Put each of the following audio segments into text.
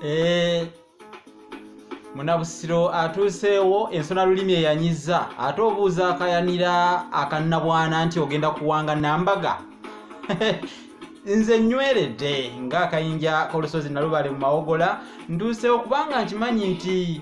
Eh, munabusiro atuuseewo ensona lulimi eyanyiza ate obuuza akayanira akannabwana nti ogenda kuwanga nambaga nze nyweredde ng'akayinja k'olusozi nalubale mu mawogola ntuuseewo kubanga nkimanyi nti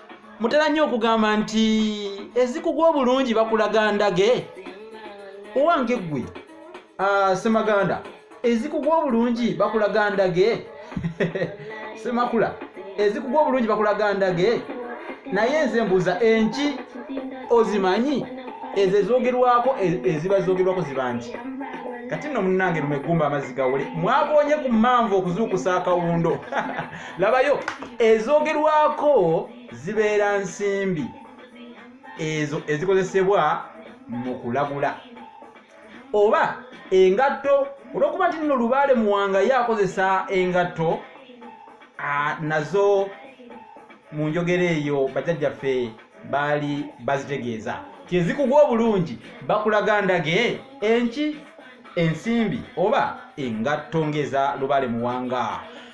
mutera nnyo okugamba nti ezikugwa obulungi bakulaga ndage owange ggwe ah, semaganda ezikugwa obulungi bakulaga ndage semakula ezikugwa obulungi bakulaga ndage naye nze mbuuza enki ozimanyi ezo ezogerwako e-, eziba zogerwako ziba nti kati nno munange lumegumba amazzi gawole mwakoonye ku manvu okuzuukusa akawundo labayo ezogerwako zibeera nsimbi ezo ezikozesebwa mu kulagula oba engatto olwokuba nti nno lubaale muwanga ye akozesa engatto nazo mu njogera eyo bajajjaffe baali bazitegeeza kyezikugwa obulungi bakulaga ndage enki ensimbi oba engatto ngeza lubaale muwanga